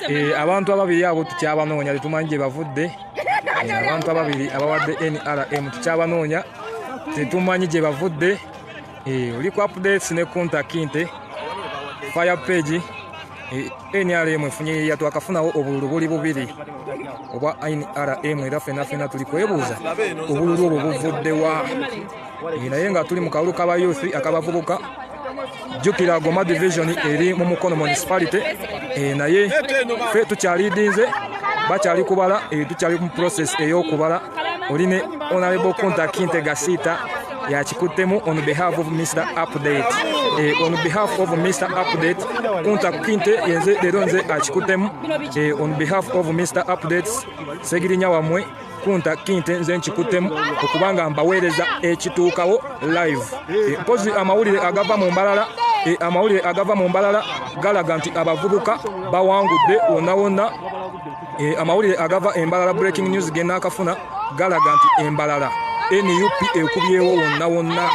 Eh, abantu ababiri abo tukyabanoonya tetumanyi gye bavudde eh, abantu ababiri abawadde nrm tukyabanoonya tetumanyi gye bavudde eh, oli ku updates ne kuntakinte fire page nrm efunye yeya twakafunawo obululu buli bubiri obwa nrm era fenafena tuli kwebuuza obululu obwo buvuddewa naye nga tuli mu kalulu kaba youth akabavubuka jjukira goma division eri mu mukono municipality eh, naye fe tukyalidinze bakyali kubala eh, tukyali mu process eyokubala oli ne honorable kunta kinte gasiita yakikuttemu on behalf of mr update eh, on behalf of mr update kunta kinte yenze leero nze akikuttemu on behalf of mr updates segirinya wamwe kunta kinte nze nkikuttemu okubanga mbaweereza ekituukawo live eh, mpozi amawulire agava mu mbalala eh, amawulire agava mu mbalala galaga nti abavubuka bawangudde wonna wonna eh, amawulire agava embalala breaking news genaakafuna galaga nti embalala nup ekubyewo wonna wonna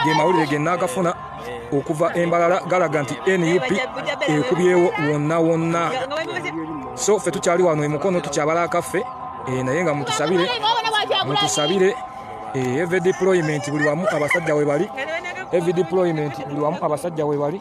ge mawulire genaakafuna okuva embalala galaga nti nup ekubyewo wonna wonna so ffe tukyali wano emukono tukyabala akaffe eh, naye nga mutusabire mutusabire eh, ev deployment buli wamu abasajja webali ev deployment buli wamu abasajja webali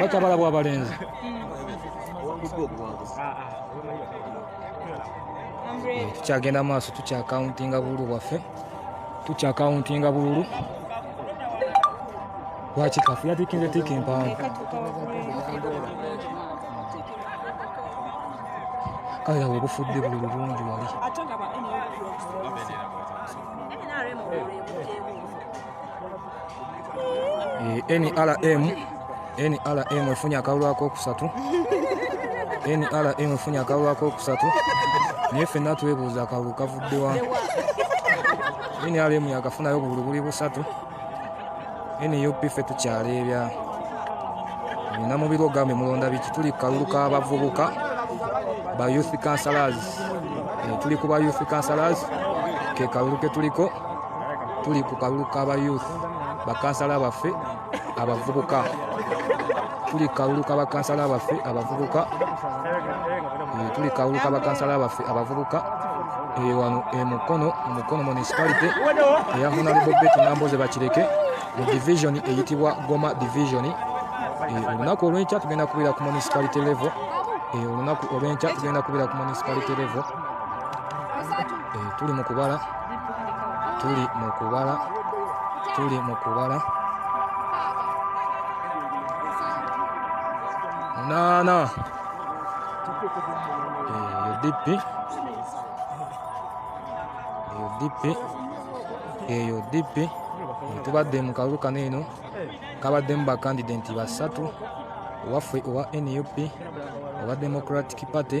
Wacha bala bwa balenzi. Tukyagenda maaso tukyakauntinga bululu bwaffe tukyakauntinga bululu lwaki kafu yatikinze tiika empanvu kale awo obufudde buli bulungi wali nrm eh, nrm efunye akalulu akokusatu nrm efunye akalulu akokusatu naye fenna twebuuza akalulu kavuddewa nrm yakafunayo buli buli busatu nup fe tukyaleebya nina mubiri ogambe mulonda biki tuli kalulu kabavubuka ba youth councilors eh, tuli ku ba youth councilors ke kalulu ketuliko tuli ku kalulu kaba youth bakansala baffe abavubuka tuli kalulu kabakansala baffe abavubuka eh, tuli kalulu kabakansala baffe abavubuka eh, wano emukono eh, mukono municipality eya honalebo bet namboze bakireke mu division eyitibwa goma division olunaku olwenkya tugenda kubeera ku municipality level olunaku olwenkya tugenda kubeera ku municipality level tuli mu kubala tuli mu kubala tuli mu kubala munaana eyo dippi eyo dippi eyo dippi tubadde mu kalulu kano eno kabaddemu bakandidenti basatu owaffe owa nup owa democratic party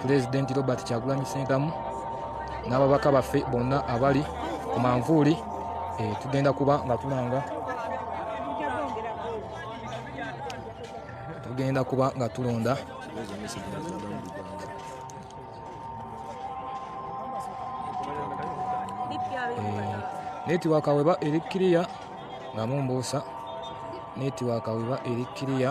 pulezidenti robert kyagulanyi sentamu n'ababaka baffe bonna abali ku manvuuli eh, tugenda kuba nga tulanga tugenda kuba nga tulonda netiwaka weba eri kiriya nga mumbuusa netiwaka weba eri kiriya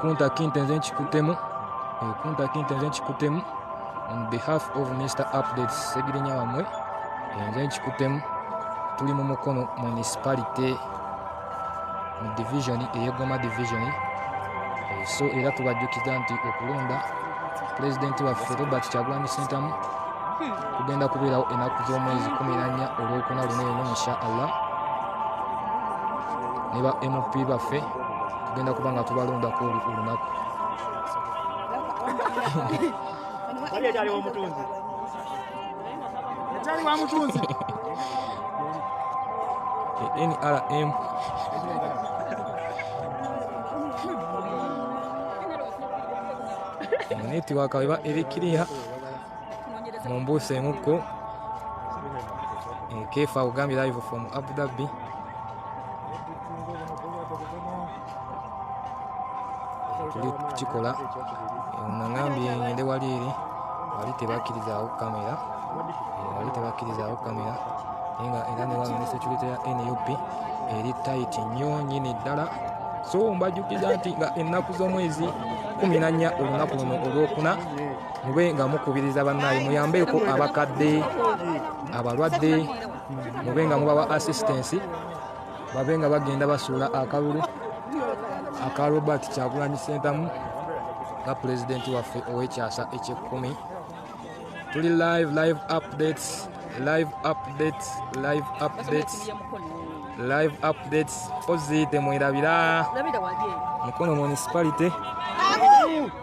Kunta Kinte nze nkikutemu eh, Kunta Kinte nze nkikutemu on behalf of Mr Updates Segirinya wamwe eh, nze nkikutemu tuli mu Mukono municipality mu division eyegoma division eh, so era tubajjukiza nti okulonda pulezidenti waffe Robert Kyagulanyi Ssentamu kugenda kubeerawo enaku z'omwezi kumi nannya olwokuna luno eno insha allah ne ba mp baffe tugenda kuba nga tubalondako olunaku nrm netiwaka weba eri kiriya mumbuusa emukko eh, kefa ogambye live from abu dhabi tuli kukikola eh, nangambye ngende wali eri wali tebakkirizawo kamera eh, wali tebakkirizawo kamera naye nga era newano ne security ya nup eri tight nnyo nyini ddala so mbajukiza nti nga ennaku z'omwezi kumi nannya olunaku luno olwokuna mube nga mukubiriza bannaye muyambeeko abakadde abalwadde mube nga mubawa assistensi babe nga bagenda basuula akalulu aka robert kyagulanyi sentamu nga pulezidenti waffe ow'ekyasa ekyekkumi tuli live live updates live updates live updates live updates oziite mwerabira mukono municipality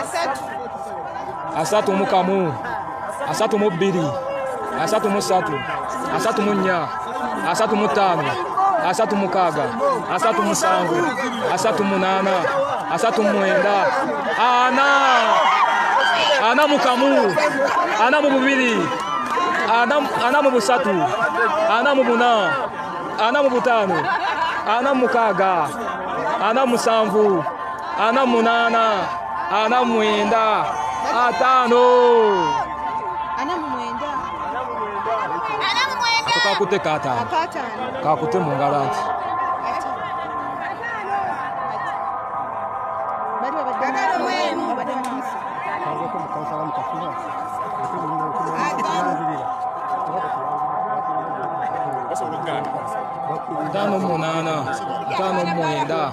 asatu asatu mu kamu asatu mu bbiri asatu mu ssatu asatu mu nnya asatu mu ttaano asatu mukaaga asatu musanvu asatu munaana asatu mwenda ana ana mu kamu ana mu bubiri ana mu busatu ana mu buna ana mu butaano ana mukaaga ana musanvu ana munana ana mwenda atano kakute katano kakute mungalo anti Dano munana, dano mwenda.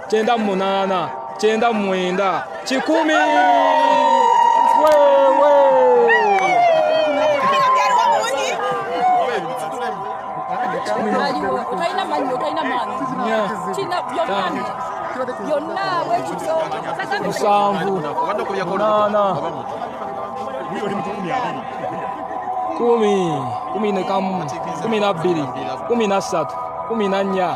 kyenda mu munaana kyenda mu mwenda kikumi musanvu munaana kumi kumi nekamu kumi na bbiri kumi na ssatu kumi na nnya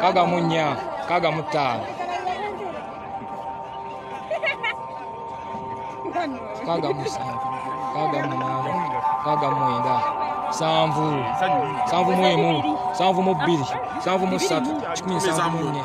kaga munya kaga mutaano kaga musanvu kaga munaana kaga mwenda sanvu sanvu mwemu sanvu mu bbiri sanvu mu ssatu kikumi nsanvu mu nnya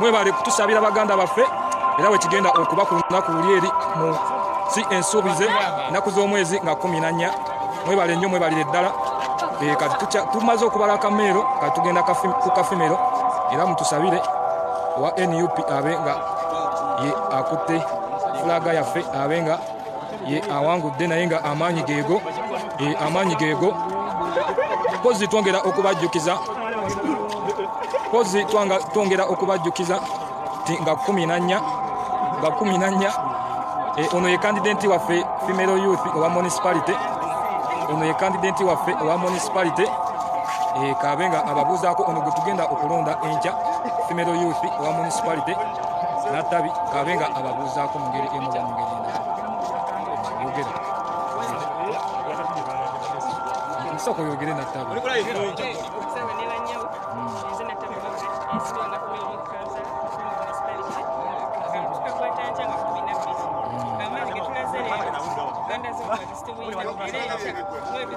mwebale kutusabira baganda baffe era wekigenda okuba ku lunaku luli eri mu si ensuubize nnaku z'omwezi nga kumi nannya mwebale nnyo mwebalire ddala eh, kati tumaze okubala akameero kati tugenda ku kafimero era mutusabire owa nup abe nga ye akutte fulaga yaffe abe nga ye awangudde naye nga amaanyi geego amaanyi geego pozi twongera okubajjukiza pozi twongera okubajjukiza ti nga kumi nannya nga kumi nannya e, ono ye kandidenti waffe female youth owa municipality ono ye kandidenti waffe owa municipality e, kabe nga ababuuzaako ono gwe tugenda okulonda enkya female youth owa municipality nattabi kabe nga ababuuzaako mu ngeri emu oba mu ngeri endala yogera nsooka oyogere nattabi Thank you.